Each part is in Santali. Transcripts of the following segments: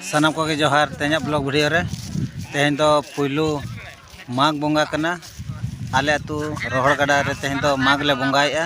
ᱥᱟᱱᱟᱢ ᱠᱚᱜᱮ ᱡᱚᱦᱟᱨ ᱛᱮᱦᱮᱧᱟᱜ ᱵᱞᱚᱜᱽ ᱵᱷᱤᱰᱤᱭᱳ ᱨᱮ ᱛᱮᱦᱮᱧ ᱫᱚ ᱯᱩᱭᱞᱩ ᱢᱟᱜᱽ ᱵᱚᱸᱜᱟ ᱠᱟᱱᱟ ᱟᱞᱮ ᱟᱹᱛᱩ ᱨᱚᱦᱚᱲ ᱜᱟᱰᱟ ᱨᱮ ᱛᱮᱦᱮᱧ ᱫᱚ ᱢᱟᱜᱽ ᱞᱮ ᱵᱚᱸᱜᱟᱭᱮᱫᱼᱟ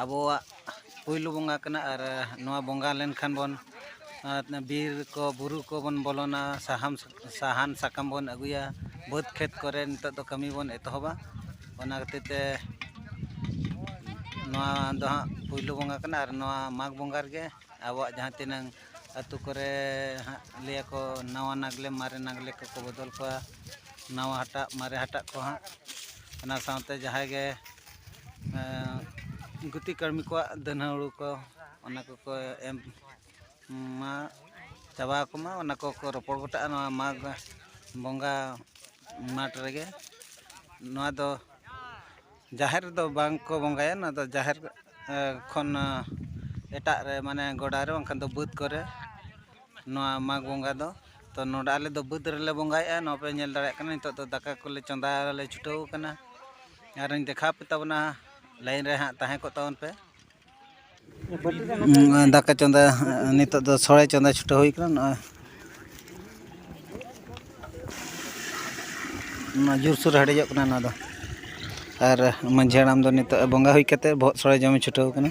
ᱟᱵᱚᱣᱟᱜ ᱯᱩᱭᱞᱩ ᱵᱚᱸᱜᱟ ᱠᱟᱱᱟ ᱟᱨ ᱱᱚᱣᱟ ᱵᱚᱸᱜᱟ ᱞᱮᱱᱠᱷᱟᱱ ᱵᱚᱱ ᱵᱤᱨ ᱠᱚ ᱵᱩᱨᱩ ᱠᱚᱵᱚᱱ ᱵᱚᱞᱚᱱᱟ ᱥᱟᱦᱟᱱ ᱥᱟᱦᱟᱱ ᱥᱟᱠᱟᱢ ᱵᱚᱱ ᱟᱹᱜᱩᱭᱟ ᱵᱟᱹᱫᱽ ᱠᱷᱮᱛ ᱠᱚᱨᱮ ᱱᱤᱛᱚᱜ ᱫᱚ ᱠᱟᱹᱢᱤ ᱵᱚᱱ ᱮᱛᱚᱦᱚᱵᱟ ᱚᱱᱟ ᱠᱷᱟᱹᱛᱤᱨ ᱛᱮ ᱱᱚᱣᱟ ᱫᱚ ᱦᱟᱸᱜ ᱯᱩᱭᱞᱩ ᱵᱚᱸᱜᱟ ᱠᱟᱱᱟ ᱟᱨ ᱱᱚᱣᱟ ᱢᱟᱜᱽ ᱵᱚᱸᱜᱟ ᱨᱮᱜᱮ ᱟᱵᱚᱣᱟᱜ ᱡᱟᱦᱟᱸ ᱛᱤᱱᱟᱹᱝ ᱟᱹᱛᱩ ᱠᱚᱨᱮ ᱦᱟᱸᱜ ᱞᱟᱹᱭ ᱟᱠᱚ ᱱᱟᱣᱟ ᱱᱟᱜᱽᱞᱮ ᱢᱟᱨᱮ ᱱᱟᱜᱽᱞᱮ ᱠᱚᱠᱚ ᱵᱚᱫᱚᱞ ᱠᱚᱣᱟ ᱱᱟᱣᱟ ᱦᱟᱴᱟᱜ ᱢᱟᱨᱮ ᱦᱟᱴᱟᱜ ᱠᱚ ᱦᱟᱸᱜ ᱚᱱᱟ ᱥᱟᱶᱛᱮ ᱡᱟᱦᱟᱸᱭ ᱜᱮ ᱜᱩᱛᱤ ᱠᱟᱹᱲᱢᱤ ᱠᱚᱣᱟᱜ ᱫᱟᱹᱱ ᱦᱩᱲᱩ ᱠᱚ ᱚᱱᱟ ᱠᱚᱠᱚ ᱮᱢ ᱢᱟ ᱪᱟᱵᱟ ᱟᱠᱚ ᱢᱟ ᱚᱱᱟ ᱠᱚᱠᱚ ᱨᱚᱯᱚᱲ ᱜᱚᱴᱟᱜᱼᱟ ᱱᱚᱣᱟ ᱢᱟᱜᱽ ᱵᱚᱸᱜᱟ ᱢᱟᱴᱷ ᱨᱮᱜᱮ ᱱᱚᱣᱟ ᱫᱚ ᱡᱟᱦᱮᱨ ᱨᱮᱫᱚ ᱵᱟᱝ ᱠᱚ ᱵᱚᱸᱜᱟᱭᱟ ᱱᱚᱣᱟ ᱫᱚ ᱡᱟᱦᱮᱨ ᱠᱷᱚᱱ ᱮᱴᱟᱜ ᱨᱮ ᱢᱟᱱᱮ ᱜᱚᱰᱟ ᱨᱮ ᱵᱟᱝᱠᱷᱟᱱ ᱫᱚ ᱵᱟᱹᱫᱽ ᱠᱚᱨᱮ ᱱᱚᱣᱟ ᱢᱟᱜᱽ ᱵᱚᱸᱜᱟ ᱫᱚ ᱛᱚ ᱱᱚᱰᱮ ᱟᱞᱮ ᱫᱚ ᱵᱟᱹᱫᱽ ᱨᱮᱞᱮ ᱵᱚᱸᱜᱟᱭᱮᱫᱼᱟ ᱱᱚᱣᱟ ᱯᱮ ᱧᱮᱞ ᱫᱟᱲᱮᱭᱟᱜ ᱠᱟᱱᱟ ᱱᱤᱛᱚᱜ ᱫᱚ ᱫᱟᱠᱟ ᱠᱚᱞᱮ ᱪᱚᱸᱫᱟᱭᱟᱞᱮ ᱪᱷᱩᱴᱟᱹᱣ ᱠᱟᱱᱟ ᱟᱨᱚᱧ ᱫᱮᱠᱷᱟᱣ ᱟᱯᱮ ᱛᱟᱵᱚᱱᱟ ᱞᱟᱭᱤᱱ ᱨᱮ ᱦᱟᱸᱜ ᱛᱟᱦᱮᱸ ᱠᱚᱜ ᱛᱟᱵᱚᱱ ᱯᱮ ᱫᱟᱠᱟ ᱪᱚᱸᱫᱟ ᱱᱤᱛᱚᱜ ᱫᱚ ᱥᱚᱲᱮ ᱪᱚᱸᱫᱟ ᱪᱷᱩᱴᱟᱹᱣ ᱦᱩᱭ ᱠᱟᱱᱟ ᱱᱚᱜᱼᱚᱭ ᱚᱱᱟ ᱡᱳᱨ ᱥᱳᱨ ᱦᱮᱰᱮᱡᱚᱜ ᱠᱟᱱᱟ ᱱᱚᱣᱟ ᱫᱚ ᱟᱨ ᱢᱟᱺᱡᱷᱤ ᱦᱟᱲᱟᱢ ᱫᱚ ᱱᱤᱛᱚᱜ ᱵᱚᱸᱜᱟ ᱦᱩᱭ ᱠᱟᱛᱮᱫ ᱵᱚᱦᱚᱜ ᱥᱚᱲᱮ ᱡᱚᱢᱮ ᱪᱷᱩᱴᱟᱹᱣ ᱠᱟᱱᱟ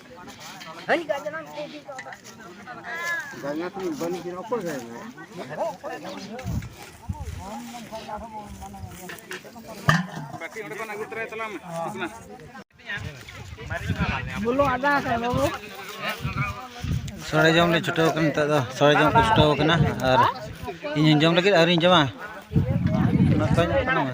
ᱥᱚᱲᱮ ᱡᱚᱢ ᱞᱮ ᱪᱷᱩᱴᱟᱹᱣ ᱠᱟᱱᱟ ᱱᱤᱛᱚᱜ ᱫᱚ ᱥᱚᱲᱮ ᱡᱚᱢ ᱠᱚ ᱪᱷᱩᱴᱟᱹᱣ ᱠᱟᱱᱟ ᱟᱨ ᱤᱧ ᱡᱚᱢ ᱞᱟᱹᱜᱤᱫ ᱟᱹᱣᱨᱤᱧ ᱡᱚᱢᱟ ᱚᱱᱟ ᱠᱚᱧ ᱮᱢᱚᱜ ᱠᱟᱱᱟ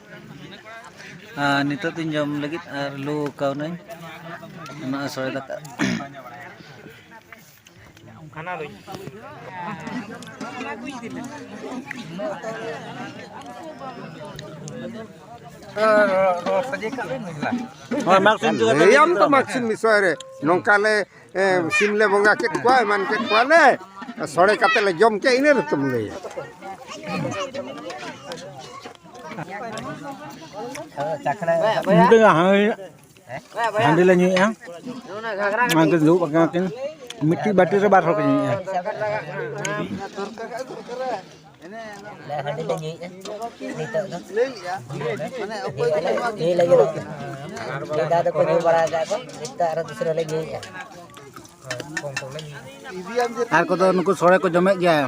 ᱟᱨ ᱱᱤᱛᱚᱜ ᱫᱚᱧ ᱡᱚᱢ ᱞᱟᱹᱜᱤᱫ ᱟᱨ ᱞᱩ ᱠᱟᱣᱱᱟᱹᱧ ᱱᱚᱜᱼᱚᱭ ᱥᱚᱲᱮ ᱫᱟᱠᱟ ᱚᱱᱟ ᱫᱚ ᱞᱟᱹᱭᱟᱢ ᱛᱚ ᱢᱟᱜᱽᱥᱤᱱ ᱵᱤᱥᱚᱭ ᱨᱮ ᱱᱚᱝᱠᱟ ᱞᱮ ᱥᱤᱢ ᱞᱮ ᱵᱚᱸᱜᱟ ᱠᱮᱫ ᱠᱚᱣᱟ ᱮᱢᱟᱱ ᱠᱮᱫ ᱠᱚᱣᱟᱞᱮ ᱥᱚᱲᱮ ᱠᱟᱛᱮ ᱞᱮ ᱡᱚᱢ ᱠᱮᱫ ᱤᱱᱟᱹ ᱨᱮᱛᱚᱢ ᱞᱟᱹᱭᱟ ᱧᱩ ᱛᱮᱜᱮ ᱦᱟᱺᱰᱤ ᱞᱮ ᱧᱩᱭᱮᱫᱼᱟ ᱚᱱᱟᱛᱮ ᱫᱩᱲᱩᱵ ᱟᱠᱟᱱᱟ ᱠᱤᱱ ᱢᱤᱫᱴᱤᱡ ᱵᱟᱹᱴᱤ ᱨᱮ ᱵᱟᱨ ᱦᱚᱲ ᱠᱚ ᱧᱩᱭᱮᱫᱼᱟ ᱟᱨ ᱠᱚᱫᱚ ᱱᱩᱠᱩ ᱥᱚᱲᱮ ᱠᱚ ᱡᱚᱢᱮᱫ ᱜᱮᱭᱟ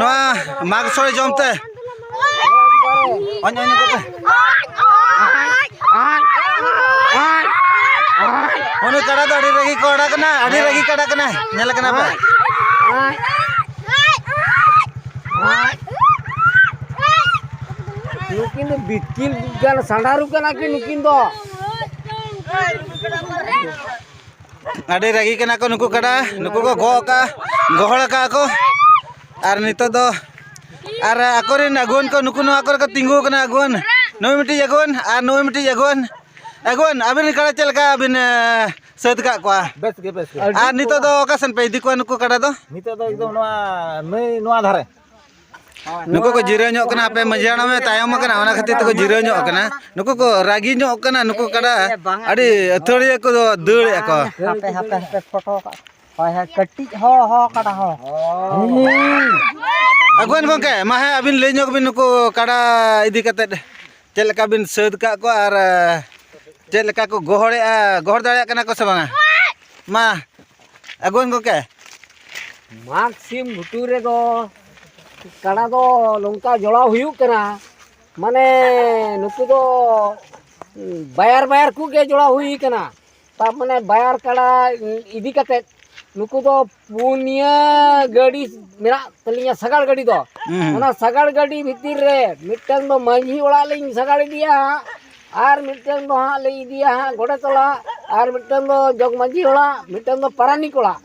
ᱱᱚᱣᱟ ᱢᱟᱜᱽ ᱥᱚᱲᱮ ᱡᱚᱢ ᱛᱮ ᱩᱱᱤ ᱠᱟᱰᱟ ᱫᱚ ᱟᱹᱰᱤ ᱨᱟᱹᱜᱤ ᱠᱚ ᱟᱲᱟ ᱠᱟᱱᱟ ᱟᱹᱰᱤ ᱨᱟᱹᱜᱤ ᱠᱟᱰᱟ ᱠᱟᱱᱟ ᱧᱮᱞ ᱠᱟᱱᱟ ᱯᱮ ᱱᱩᱠᱤᱱ ᱫᱚ ᱵᱤᱛᱠᱤᱞ ᱜᱟᱱ ᱥᱟᱸᱰᱟᱨᱩ ᱠᱟᱱᱟ ᱠᱤᱱ ᱱᱩᱠᱤᱱ ᱫᱚ ᱟᱹᱰᱤ ᱨᱟᱹᱜᱤ ᱠᱟᱱᱟ ᱠᱚ ᱱᱩᱠᱩ ᱠᱟᱰᱟ ᱱᱩᱠᱩ ᱠᱚ ᱜᱚᱜ ᱟᱠᱟᱫᱼᱟ ᱜᱚᱦᱚᱲ ᱟᱠᱟᱫᱼᱟ ᱠᱚ ᱟᱨ ᱱᱤᱛᱚᱜ ᱫᱚ ᱟᱨ ᱟᱠᱚ ᱨᱮᱱ ᱟᱹᱜᱩᱣᱟᱹᱱ ᱠᱚ ᱱᱩᱠᱩ ᱱᱚᱣᱟ ᱠᱚᱨᱮ ᱠᱚ ᱛᱤᱸᱜᱩ ᱟᱠᱟᱱᱟ ᱟᱹᱜᱩᱣᱟᱹᱱ ᱱᱩᱭ ᱢᱤᱫᱴᱤᱡ ᱟᱹᱜᱩᱣᱟᱹᱱ ᱟᱨ ᱱᱩᱭ ᱢᱤᱫᱴᱤᱡ ᱟᱹᱜᱩᱣᱟᱹᱱ ᱟᱹᱜᱩᱣᱟᱹᱱ ᱟᱹᱵᱤᱱ ᱨᱮᱱ ᱠᱟᱰᱟ ᱪᱮᱫ ᱞᱮᱠᱟ ᱵᱤᱱ ᱥᱟᱹᱛ ᱟᱠᱟᱫ ᱠᱚᱣᱟ ᱵᱮᱥ ᱜᱮ ᱵᱮᱥ ᱜᱮ ᱟᱨ ᱱᱤᱛᱚᱜ ᱫᱚ ᱚᱠᱟ ᱥᱮᱱ ᱯᱮ ᱤᱫᱤ ᱠᱚᱣᱟ ᱱᱩᱠᱩ ᱠᱟᱰᱟ ᱫᱚ ᱱᱤᱛᱚᱜ ᱫᱚ ᱮᱠᱫᱚᱢ ᱱᱚᱣᱟ ᱱᱟᱹᱭ ᱱᱚᱣᱟ ᱫᱷᱟᱨᱮ ᱱᱩᱠᱩ ᱠᱚ ᱡᱤᱨᱟᱹᱣ ᱧᱚᱜ ᱠᱟᱱᱟ ᱟᱯᱮ ᱢᱟᱹᱡᱷᱤ ᱦᱟᱲᱟᱢ ᱮ ᱛᱟᱭᱚᱢ ᱟᱠᱟᱱᱟ ᱚᱱᱟ ᱠᱷᱟᱹᱛᱤᱨ ᱛᱮᱠᱚ ᱡᱤᱨᱟᱹᱣ ᱧᱚᱜ ᱠᱟᱱᱟ ᱱᱩᱠᱩ ᱠᱚ ᱨᱟᱹᱜᱤ ᱧᱚᱜ ᱠᱟᱱᱟ ᱱᱩᱠᱩ ᱠᱟᱰᱟ ᱟᱹᱰᱤ ᱟᱹᱛᱷᱟᱹᱲᱤᱭᱟᱹ ᱠᱚ ᱫᱟᱹᱲᱮᱫ ᱠᱚ ᱦᱟᱯᱮ ᱦᱟᱯᱮ ᱦᱟᱯᱮ ᱯᱷᱳᱴᱳ ᱦᱳᱭ ᱦᱳᱭ ᱠᱟᱹᱴᱤᱡ ᱦᱚ ᱦᱚ ᱠᱟᱰᱟ ᱦᱚ ᱟᱜᱩᱣᱟᱱ ᱜᱚᱝᱠᱮ ᱢᱟ ᱦᱮᱸ ᱟᱹᱵᱤᱱ ᱞᱟᱹᱭ ᱧᱚᱜ ᱵᱤᱱ ᱱᱩᱠᱩ ᱠᱟᱰᱟ ᱤᱫᱤ ᱠᱟᱛᱮᱫ ᱪᱮᱫ ᱞᱮᱠᱟ ᱵᱤᱱ ᱥᱟᱹᱛ ᱠᱟᱜ ᱠᱚᱣᱟ ᱟᱨ ᱪᱮᱫ ᱞᱮᱠᱟ ᱠᱚ ᱜᱚᱦᱚᱲᱮᱜᱼᱟ ᱜᱚᱦᱚᱲ ᱫᱟᱲᱮᱭᱟᱜ ᱠᱟᱱᱟ ᱠᱚ ᱥᱮ ᱵᱟᱝᱟ ᱢᱟ ᱟᱜᱩᱣᱟᱱ ᱜᱚᱝᱠᱮ ᱢᱟᱜᱽ ᱥᱤᱢ ᱜᱷᱩᱴᱩ ᱨᱮᱫᱚ ᱠᱟᱰᱟ ᱫᱚ ᱱᱚᱝᱠᱟ ᱡᱚᱲᱟᱣ ᱦᱩᱭᱩᱜ ᱠᱟᱱᱟ ᱢᱟᱱᱮ ᱱᱩᱠᱩ ᱫᱚ ᱵᱟᱭᱟᱨ ᱵᱟᱭᱟᱨ ᱠᱚᱜᱮ ᱡᱚᱲᱟᱣ ᱦᱩᱭ ᱠᱟᱱᱟ ᱛᱟᱨ ᱢᱟᱱᱮ ᱵᱟᱭᱟᱨ ᱠᱟᱰᱟ ᱤᱫᱤ ᱠᱟᱛᱮᱫ ᱱᱩᱠᱩ ᱫᱚ ᱯᱩᱱᱭᱟᱹ ᱜᱟᱹᱰᱤ ᱢᱮᱱᱟᱜ ᱛᱟᱹᱞᱤᱧᱟ ᱥᱟᱜᱟᱲ ᱜᱟᱹᱰᱤ ᱫᱚ ᱚᱱᱟ ᱥᱟᱜᱟᱲ ᱜᱟᱹᱰᱤ ᱵᱷᱤᱛᱤᱨ ᱨᱮ ᱢᱤᱫᱴᱟᱝ ᱫᱚ ᱢᱟᱹᱡᱷᱤ ᱚᱲᱟᱜ ᱞᱤᱧ ᱥᱟᱜᱟᱲ ᱤᱫᱤᱭᱟ ᱦᱟᱸᱜ ᱟᱨ ᱢᱤᱫᱴᱟᱝ ᱫᱚ ᱦᱟᱸᱜ ᱞᱤᱧ ᱤᱫᱤᱭᱟ ᱦᱟᱸᱜ ᱜᱚᱰᱮᱛ ᱚᱲᱟᱜ ᱟᱨ ᱢᱤᱫᱴᱟᱝ ᱫᱚ ᱡᱚᱜᱽ ᱢᱟᱹᱡᱷᱤ ᱚᱲᱟᱜ ᱢᱤᱫᱴᱟᱝ ᱫᱚ ᱯᱟᱨᱟᱱᱤᱠ ᱚᱲᱟᱜ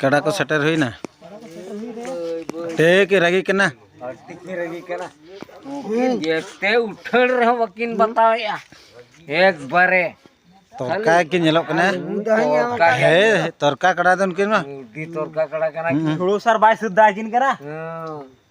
ᱠᱟᱰᱟ ᱠᱚ ᱥᱮᱴᱮᱨ ᱦᱩᱭᱱᱟ ᱴᱷᱤᱠ ᱨᱟᱹᱜᱤ ᱠᱟᱱᱟ ᱨᱟᱹᱜᱤ ᱠᱟᱱᱟ ᱡᱮᱛᱮ ᱩᱴᱷᱟᱹᱲ ᱨᱮᱦᱚᱸ ᱵᱟᱹᱠᱤᱱ ᱵᱟᱛᱟᱣᱮᱜᱼᱟ ᱮᱠᱵᱟᱨᱮ ᱛᱚᱨᱠᱟ ᱜᱮ ᱧᱮᱞᱚᱜ ᱠᱟᱱᱟ ᱦᱮᱸ ᱛᱚᱨᱠᱟ ᱠᱟᱰᱟ ᱫᱚ ᱩᱱᱠᱤᱱ ᱢᱟ ᱛᱚᱨᱠᱟ ᱠᱟᱰᱟ ᱠᱟᱱᱟ ᱦᱩᱲᱩ ᱥᱟᱨ ᱵᱟᱭ ᱥᱩᱫᱷᱟ ᱟᱹᱠᱤᱱ ᱠᱟᱱᱟ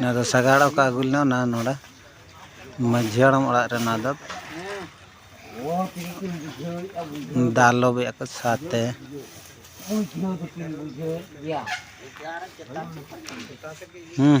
ᱱᱚᱣᱟ ᱫᱚ ᱥᱟᱜᱟᱲ ᱚᱠᱟ ᱟᱹᱜᱩ ᱞᱮᱱᱟ ᱚᱱᱟ ᱱᱚᱰᱮ ᱢᱟᱹᱡᱷᱤ ᱦᱟᱲᱟᱢ ᱚᱲᱟᱜ ᱨᱮ ᱱᱚᱣᱟ ᱫᱚ ᱫᱟᱞᱚᱵᱮᱜᱼᱟ ᱠᱚ ᱥᱟᱛᱮ ᱦᱩᱸ